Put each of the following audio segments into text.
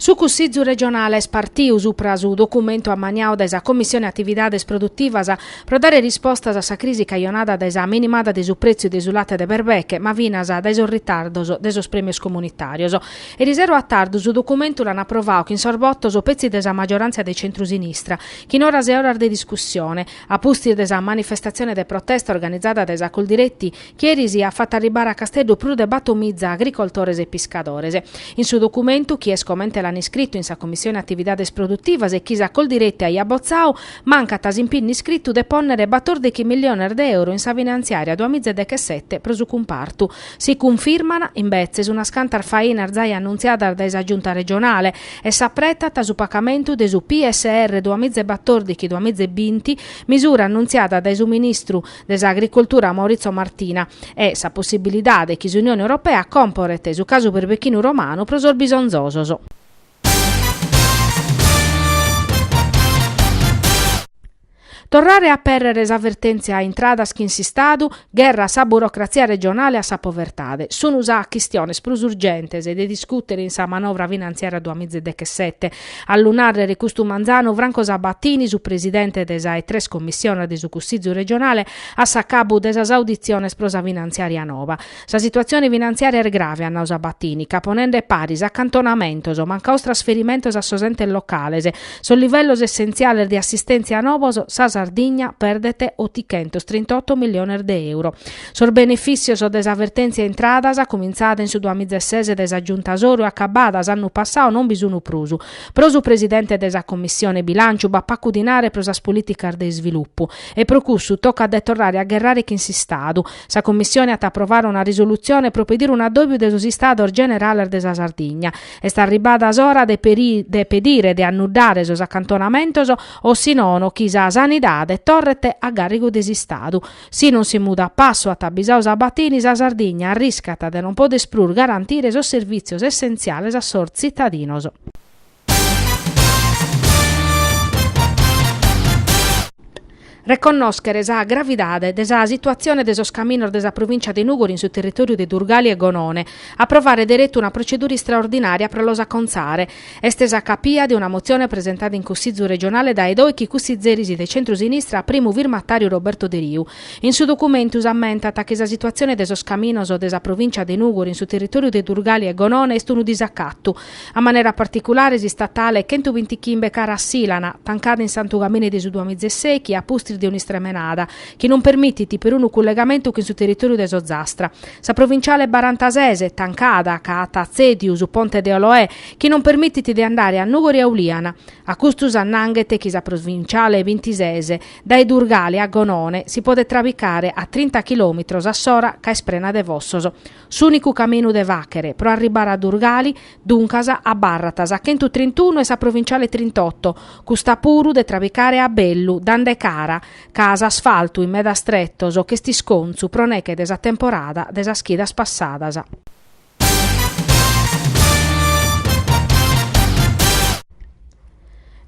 Su Cussìgiu regionale est partiu supra su documentu ammaniadu dae sa Commissione Atividades Produtivas pro dare rispostas a sa crisi cajonada dae sa minimada de su prètziu de su late de berbeche ma finas dae sos ritardos de sos prèmios comunitàrios. Erisero a tardu su documentu l'an aprovadu chin sos botos petzi de sa maggioràntzia de centru-sinistra chin oras e oras de discussione a pustis de sa manifestatzione de protesta organizada dae sa Coldiretti chi eris at fatu arribare a Casteddu prus de batomiza agricoltores e piscadores. In su documentu, chi est comente l'ant iscritu in sa Commissione Atividades Produtivas e chi sa Coldiretti aiat botzadu, mancat s'impinnu iscritu de pònnere batordighi milliones de euro in sa finantziària duamiza e dechesete pro su cumpartu. Si cunfirmant, imbetzes, unas cantas fainas giai annuntziadas dae sa Giunta regionale e s'apretat su pagamentu de su PSR duamiza e batordighi-duamiza e binti, misura annuntziada dae su ministru, de s'Agricultura Maurizio Martina e sa possibilidade chi s'Unione Europea comporet su casu berbechinu romanu pro sos bisonzosos. Torrare a apèrrere sa vertèntzia intradas chin s'Istadu, gherra a sa burocratzia regionale e a sa povertade, sun sas chistiones prus urgentes de discùtere in sa manovra finantziària duamiza e dechesete, A lu nàrrere custu manzanu, Franco Sabatini, su presidente de sa 'e tres commissiones de su Cussìgiu regionale, a s'acabu de sas auditziones pro sa finantziària nova. Sa situatzione finantziària est grave, at nau Sabatini, ca ponende paris acantonamentos, mancados trasferimentos a sos entes locales, sos livellos essentziales de assistèntzia novos, sa Sardigna perdet otichentos trintoto milliones de euro. Sos benefìtzios de sa vertèntzia intradas, cumintzada in su duamiza e ses de sa Giunta Soru e acabada s'annu passadu, non bi sunt prus. Pro su presidente de sa Commissione Bilànciu b'at pagu dinare pro sas polìticas de isvilupu. E pro cussu tocat de torrare a gherrare chin s'Istadu. Sa Commissione at a aprovare una risolutzione pro pedire un'addòbiu de sos Istados Generales de sa Sardigna. Est arribada s'ora de pedire de annuddare sos acantonamentos o si nono chi sa sanidade torret a gàrrigu de s'Istadu. Si non si mudat passu, at abisau Sabatini, sa Sardigna arriscat de non poder prus garantire sos servìtzios essentziales a sos tzitadinos. Reconnòschere sa gravidade de sa situatzione de sos caminos de sa Provìncia de Nùgoro in su territòriu de Durgali e Gonone. Aprovare deretu una protzedura istraordinària pro los acontzare. Est sa capia de una motzione presentada in Cussìgiu regionale dae dòichi cussigeris de centru-sinistra primu firmatàriu Roberto Deriu. In su documentu s'ammentat chi sa situatzione de sos caminos de sa provìncia de Nùgoro in su territòriu de Durgali e Gonone est unu disacatu, a manera particulare s'istatale chentuvintichimbe cara a Sìlana, tancada in Santugaine de su duamiza e sèichi a pustis de un'istremenada, chi non permitit perunu cullegamentu chin su territòriu de s'Ozastra. Sa provinciale barantasese, tancada, ca at tzèdiu su ponte de Oloè, chi non permitit de andare a Nùgoro e a Uliana. A custu s'annanghet chi sa provinciale bintisese, dae Durgali a Gonone, si podet trabicare a trinta chilòmitros a s'ora ca est prena de fossos. S'ùnicu caminu de fàchere, pro arribare a Durgali, duncas, abarrat sa chentu trintunu e sa provinciale trintoto, custa puru de trabicare a bellu, dande cara, ca s'asfaltu in medas tretos ch'est iscontzu pro neche de sa temporada de sas chidas passadas.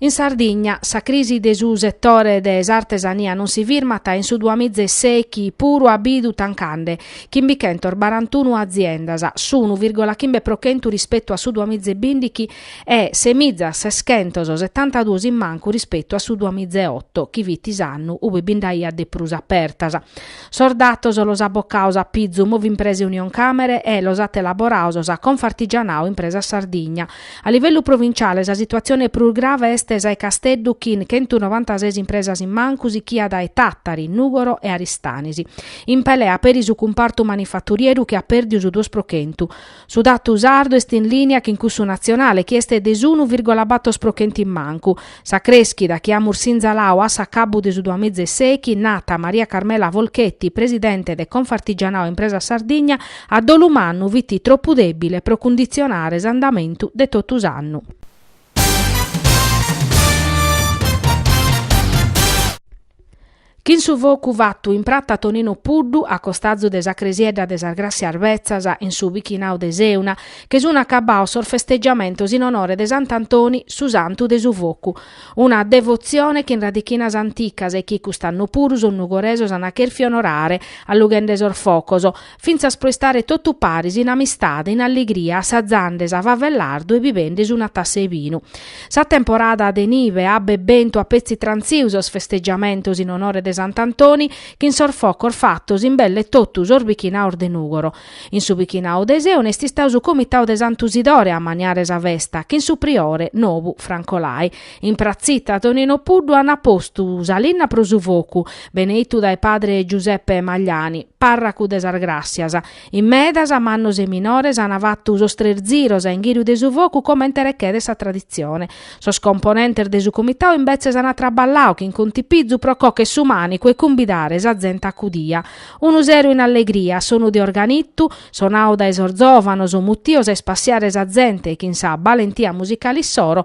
In Sardigna sa crisi de su setore de s'artesania non si firmat in su duamizesèichi puru at bidu tancande chimbichentos barantunu aziendas, s'unu virgola chimbe pro chentu rispetu a su duamizebindighi e semiza seschentos setantaduos in mancu rispetu a su duamiza e oto, chi fit s'annu ue bi nd'aiat de prus apertas. Sos datos los at bocaos a pizu Movimprese Unioncamere e los at elaboraos sa Confartigianao Impresas Sardigna. A livellu provinciale sa situatzione prus grave est sa 'e Casteddu chin chentunovantases impresas in mancu sichia dae Tàtari, Nùgoro e Aristanis. In pelea peri su cumpartu manifaturieru chi at pèrdiu su duos pro chentu. Su datu sardu est in lìnia chin cussu natzionale chi est de s'unu vìrgola bator pro chentu in mancu. Sa crèschida chi amus sinzalau a s'acabbu de su duamiza e sèichi, nat Maria Carmela Folchetti, presidente de Confartigianao Impresa Sardigna, a dolu mannu fit tropu dèbile pro cunditzionare s'andamentu de totu s'annu. Chin su focu fattu in prata Tonino Puddu a costazu de sa cresiedda de sas Grassias Betzas in su bichinau de Seuna che sunu acabbaos sos festeggiamentos in onore de Sant'Antoni su santu de su focu. Una devozione chin radichinas anticas e chi cust'annu puru sos nugoresos an cherfiu onorare allughende sos focos fintzas pro istare totu paris in amistade, in allegria, assazande sa fava e lardu e bibendesi una tassa 'e binu. Sa temporada de nive abba e bentu at petzi trantziu sos festeggiamentos in onore de Sant'Antoni chin sos focos fattos in belle tottu sos bichinaos de Nugoro. In su bichinau de Seuna est istau su comitau de Santu Sidore a ammaniare sa festa chin su priore nobu Franco Lai In pratzita Tonino Puddu ant postu sa linna pro su focu, beneitu dae padre Giuseppe Magliani, pàrracu de sas Gràssias. In medas, mannos e minores, ant fatu sos tres ziros a inghìriu de su focu comente rechedet sa traditzione. Sos componentes de su comitau imbetzes ant traballau chin contipizu pro còcher su mànicu e cumbidare sa zente acudia. Unu seru in allegria, a sonu de organitu, sonau dae sos zòvanos, mutios a ispassiare sa zente e chin sa balentia musicale issoro,